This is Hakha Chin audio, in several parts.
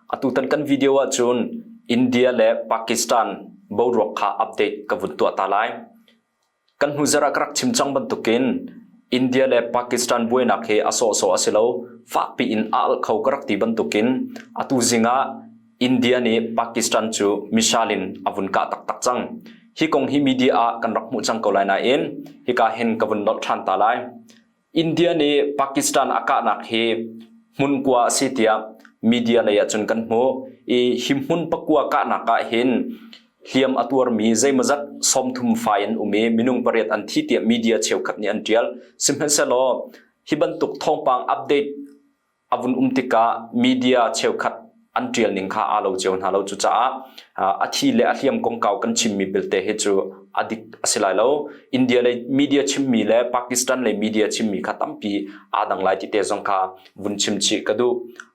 Atutan kan video ahcun India le Pakistan boruak kha update ka vun tuah ta lai. Kan hnu zarah ka rak chim cang bantukin India le Pakistan buainak hi a sawhsawh a si lo. Fakpi in a alh kho ka rak ti bantukin atu zingah India nih Pakistan cu missile in a vun kah taktak cang. Hi kong hi media ah kan rak hmuh cang ko lai nain hika hin ka vun nolh ṭhan ta lai. India nih Pakistan a kahnak hi hmun kua a si tiah media lei ah cun kan hmuh i hi hmun pakua kahnak ah hin hliam a tuarmi zeimawzat sawmthum fai an um i minung pariat an thi tiah media cheukhat nih an ṭial sihmanhsehlaw hi bantuk thawngpang update a vun um tikah media cheukhat an ṭial ning kha aa lo cio hna lo. Cucaah a thi le a hliam kongkau kan chimmi belte hi cu a dik a si lai lo. India lei media chimmi le Pakistan lei media chimmi kha tampi aa dang lai ti te zong kha vun chim chih ka duh.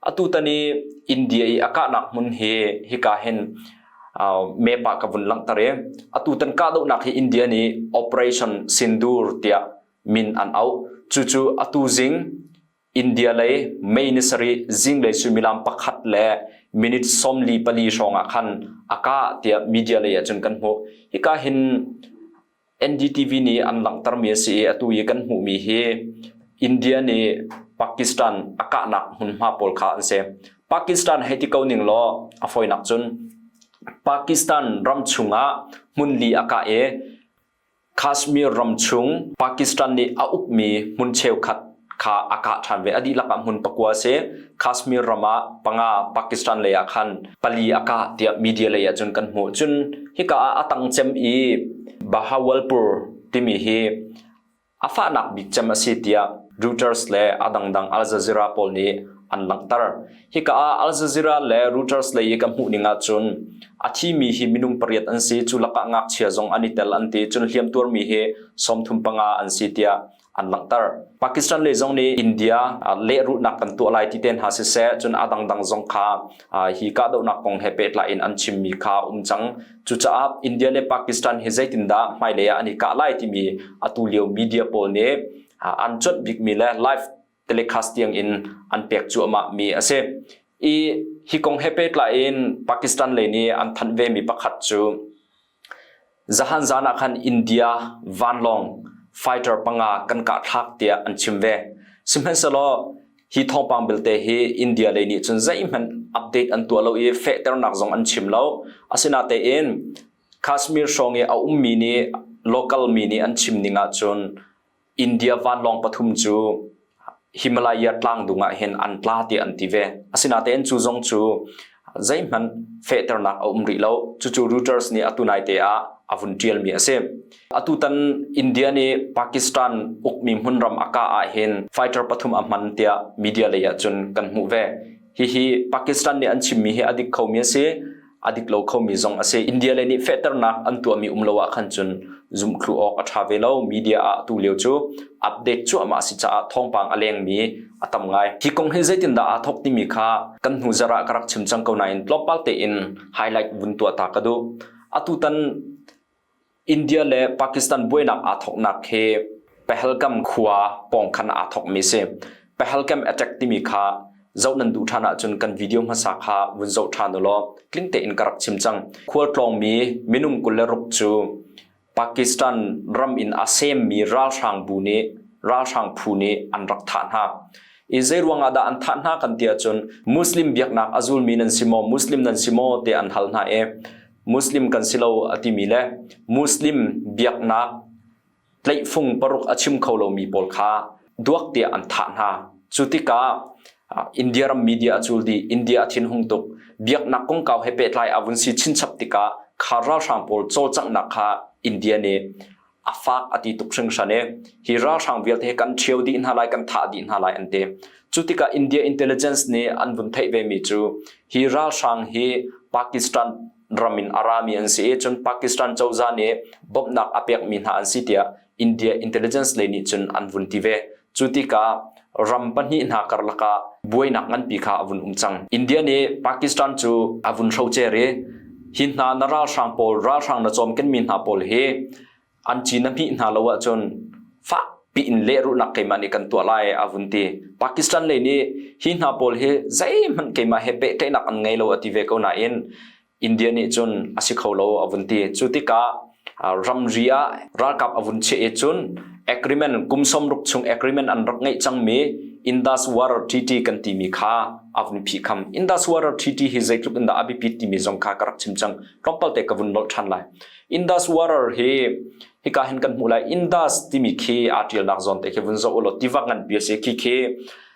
Atutan i India i a kahnak hmun hi hika hin map ah ka vun langhter i atutan kahdohnak hi India nih Operation Sindoor tiah min an auh. Cucu atu zing India lei May ni sarih zinglei suimilam pakhat le minute sawmli pali hrawngah khan a kah tiah media lei ahcun kan hmuh. Hika hin NDTV nih an langhtermi a si i atu i kan hmuhmi hi India nih Pakistan a kahnak hmunhma pawl kha an si. Pakistan hei ti ko ning law a fawinak cun Pakistan ram chungah hmun li a kah i Kashmir ram chung Pakistan nih a ukmi hmun cheukhat kha a kah ṭhan ve. A dihlak ah hmun pakua a si. Kashmir ram ah panga Pakistan lei ah khan pali a kah tiah media lei ahcun kan hmuh. Cun hika ah a tang cem i Bahawalpur timi hi a fahnak bik cem a si tiah Reuters le a dangdang Al Jazeera pawl nih an langhter. Hika ah Al Jazeera le Reuters lei i ka hmuh ning ahcun a thimi hi minung pariat an si, cu lakah ngakchia zong an i tel an ti, cun hliamtuarmi hi sawmthum panga an si tiah an langhter. Pakistan lei zong nih India lehrulhnak kan tuah lai ti ten hna siseh, cun a dangdang zong kha hi kahdohnak kong he pehtlai in an chimmi kha um cang. Cucaah India le Pakistan hi zeitindah hmailei ah an i kah lai timi atu lio media pawl nih an cuanh bikmi le live telecast tiang in an pek cuahmah mi a si. I hi kong he pehtlai in Pakistan lei nih an thanh ve mi pakhat cu zahan zan ah khan India vanlawng fighter panga kan kah thlak tiah an chim ve. Sihmanhsehlaw Hi thawngpang belte hi India lei nih cun zeihmanh update an tuah lo i fehternak zong an chim lo. Asinatein Kashmir hrawng i a ummi nih local mi nih an chim ning ahcun India vanlawng pathum cu Himalaya tlang dung ah hin an tla tiah an ti ve. Asinatein cu zong cu zeihmanh fehternak a um rih lo. Cucu Reuters nih atu naite ah a vun ṭialmi a si. Atutan India nih Pakistan ukmi hmunram a kah ahhin fighter pathum a hman tiah media lei ahcun kan hmuh ve. Hihi Pakistan nih an chimmi hi a dik khomi a si, a dik lo khomi zong a si. India lei nih fehternak an tuahmi um lo ahkhan cun zumhthlu awk a ṭha ve lo. Media ah atu lio cu update cuahmah si caah thawngpang a lengmi a tam ngai. Hi kong hi zeitindah aa thawk timi kha kan hnu zarh ah ka rak chim cang ko nain tlawmpal tein highlight vun tuah ta ka duh. Atutan India le Pakistan buainak aa thawknak hi Pahalgam khua pawng khan aa thawkmi si. Pahalgam attack timi kha zoh nan duh ṭhan ahcun kan video hmasa kha vun zoh ṭhan u law tling tein ka rak chim cang. Khualtlawngmi minung kul le ruk cu Pakistan ram in a semmi ralhrang bu nih ralhrang phu nih an rak thah hna. I zeiruang ah dah an thah hna kan ti ahcun Muslim biaknak a zulmi nan si maw, Muslim nan si maw tiah an hal hna i Muslim kan si lo a timi le Muslim biaknak tleihfung paruk a chim kho lomi pawl kha duak tiah an thah hna. Cu tikah India ram media a cul dih. India a thinhung tuk. Biaknak kongkau he pehtlai a vun si chinchap tikah kha ralhrang pawl cawlcanghnak kha India nih a fak a ti tuk hringhran i hi ralhrang vialte hi kan ṭhio dih hna lai, kan thah dih hna lai an ti. Cu tikah India intelligence nih an vun theih vemi cu hi ralhrang hi Pakistan ram in a rami an si i cun Pakistan cozah nih bawmhnak a pekmi hna an si tiah India intelligence lei nih cun an vun ti ve. Cu tikah ram pahnih hna karlak ah buainak nganpi kha a vun um cang. India nih Pakistan cu a vun hrocer i hi hna na ralhrang pawl ralhrang na cawm kenmi hna pawl hi an ci na hmih hna lo ahcun fak piin leruhnak keimah nih kan tuah lai a vun ti. Pakistan lei nih hi hna pawl hi zeihmanh keimah he pehtlaihnak an ngei lo a ti ve ko nain India nih cun a si kho lo a vun ti. Cu tikah ramri ah ralkap a vun chiah i cun agreement kum som ruk chung agreement an rak ngeih cangmi Indus War Treaty kan timi kha a vun phi kham. Indus War Treaty hi zeitluk in dah a biapit timi zong kha ka rak chim cang. Tlawmpal te ka vun nolh ṭhan lai. Indus War hi hika hin kan hmuh lai Indus timi khi aa ṭialnak zawn te khi vun zoh u law tiva ngan pi a si khi khi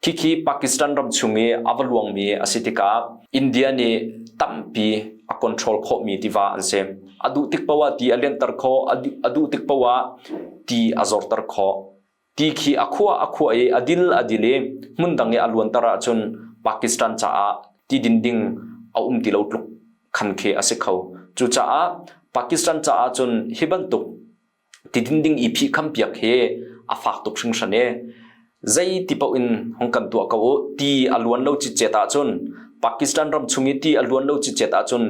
Khikhi Pakistan ram chung i a va luangmi a si tikah India nih tampi a control khawhmi tiva an si. A duh tik paoh ah ti a lianter khawh, a duh tik paoh ah ti a zorter khawh. Ti khi a khua a khua i a dil a dil i hmun dang i a luanter ahcun Pakistan caah ti dinding a um ti lo tluk khan khi a si kho. Cucaah Pakistan caah cun hi bantuk tiding ding i phihkhampiak hi a fak tuk hringhran i zei ti paoh in hung kan tuah ko u ti a luan lo cicet ahcun Pakistan ram chung i ti a luan lo cicet ahcun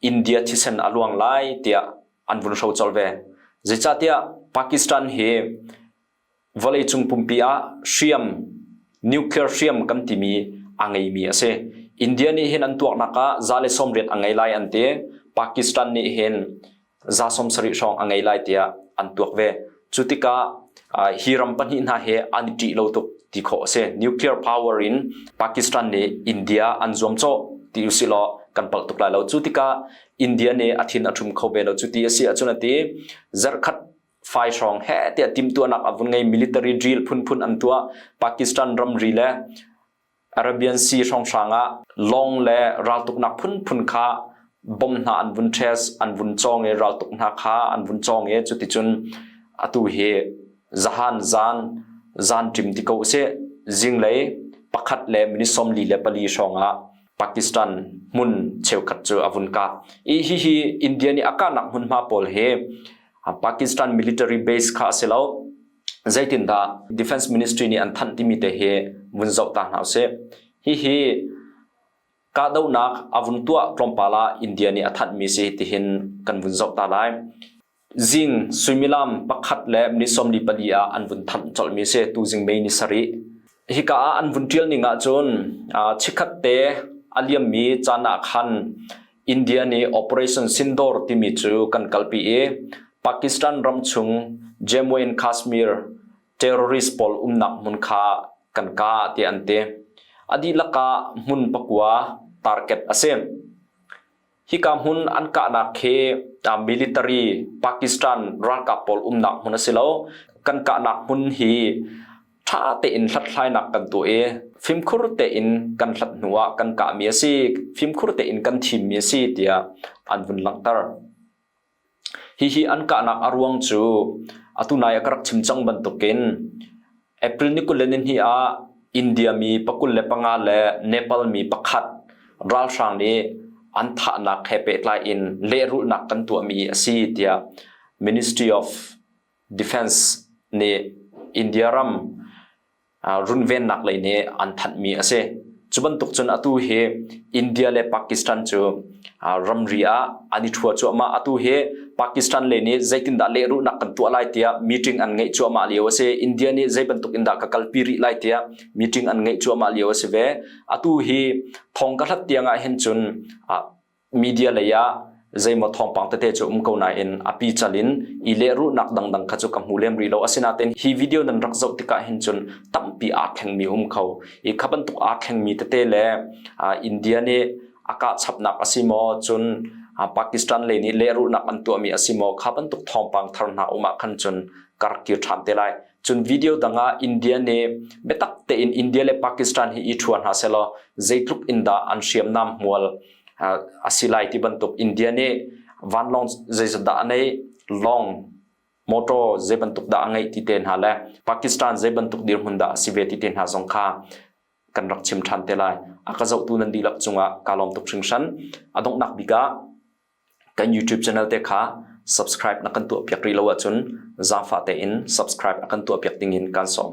India thisen a luang lai tiah an vun hro colh ve zeicahtiah Pakistan hi Vawleicung pumpi ah hriam, nuclear hriam kan timi a ngeimi a si. India nih hin an tuaknak ah za le sawmriat a ngei lai an ti. Pakistan nih hin za sawmsarih hrawng a ngei lai tiah an tuak ve. Cu tikah uh, hi ram pahnih hna hi an i ṭih lo tuk ti khawh a si. Nuclear power in Pakistan nih India an zuam cawh ti usilaw kan palh tuk lai lo. Cu tikah India nih a thin a ṭhum kho ve lo cu ti a si ahcun a ti. Zarh khat fai hrawng he tiah timtuahnak a vun ngei military drill phunphun an tuah Pakistan ramri le Arabian Sea hrawnghrang ah long le raltuknak phunphun kha bom hna an vun ṭhes an vun cawng i raltuk hna kha an vun cawng i cuticun atu hi zahan zan zan ṭim ti ko si zinglei pakhat le minute sawmli le pali hrawngah Pakistan hmun cheukhat cu a vun kah i hihi India nih a kahnak hmunhma pawl hi Pakistan military base kha a si lo zeitindah defense ministry nih an thanh timi te hi vun zoh ta hna usih hihi kahdohnak a vun tuah tlawmpal ah India nih a thanhmi si tihin kan vun zoh ta lai zing suimilam pakhat le ni sawmli pali ah an vun thanh colhmi si tu zing May ni sarih hika ah an vun tial ning ahcun chikhat te a liammi caan ah khan India nih Operation Sindor timi cu kan kalpi i Pakistan ram chung Jammu and Kashmir terrorist pawl umnak hmun kha kan ka ti an ti. A dihlak ah hmun pakua target a si. Hika hmun an kahnak hi military Pakistan ralkap pawl umnak hmun a si lo. Kan kahnak hmun hi ṭha tein hlathlainak kan tuah i fimkhur tein kan hlat hnu ah kan kahmi a si fimkhur tein kan thimmi a si tiah an vun langhter hihi an kahnak a ruang cu atu nai a ka rak chim cang bantukin april ni kul ni hi ah india mi pakul le panga le nepal mi pakhat ralhrang nih an thahnak he pehtlai in lehrulnak kan tuahmi a si tiah ministry of defence nih India ram runvennak lei nih an thanhmi a si. Cu bantuk cun atu hi India le Pakistan cu ramri ah an i ṭhua cuahmah. Atu hi Pakistan le nih zeitindah lehrulhnak kan tuah lai tiah meeting an ngeih cuahmah lio a si. India nih zei bantuk in dah ka kalpi rih lai tiah meeting an ngeih cuahmah lio a si ve. Atu hi thong ka hlat tiang ah hin cun media lei ah zeimaw thawngpang tete cu um ko nain a pi cal in i lehrulhnak dangdang kha cu ka hmu lem rih lo asinain hi video nan rak zoh tikah hin cun tampi aa thlengmi um kho i kha bantuk aa thlengmi tete le India nih a kah chapnak a si maw cun Pakistan lei nih lehrulhnak an tuahmi a si maw kha bantuk thawngpang thar hna um ah khan cun karkir ṭhan te lai cun video dangah India ne biatak tein India le Pakistan hi i thuan ha selaw zeitluk in dah an hriam nam mual asilai ti bantuk India ne vanlong zeizat nei long motor ze bantuk da ngai ti ten ha le Pakistan ze bantuk dirhmun da si ve ti ten ha zong kha kan rak chim than te lai akazo tu nan dilak chunga kalom tuk hring shan adong nak bika Kan YouTube channel te kha subscribe na kan tuahpiak rih lo ahcun zaangfah tein subscribe a kan tuahpiak ding in kaan sawm.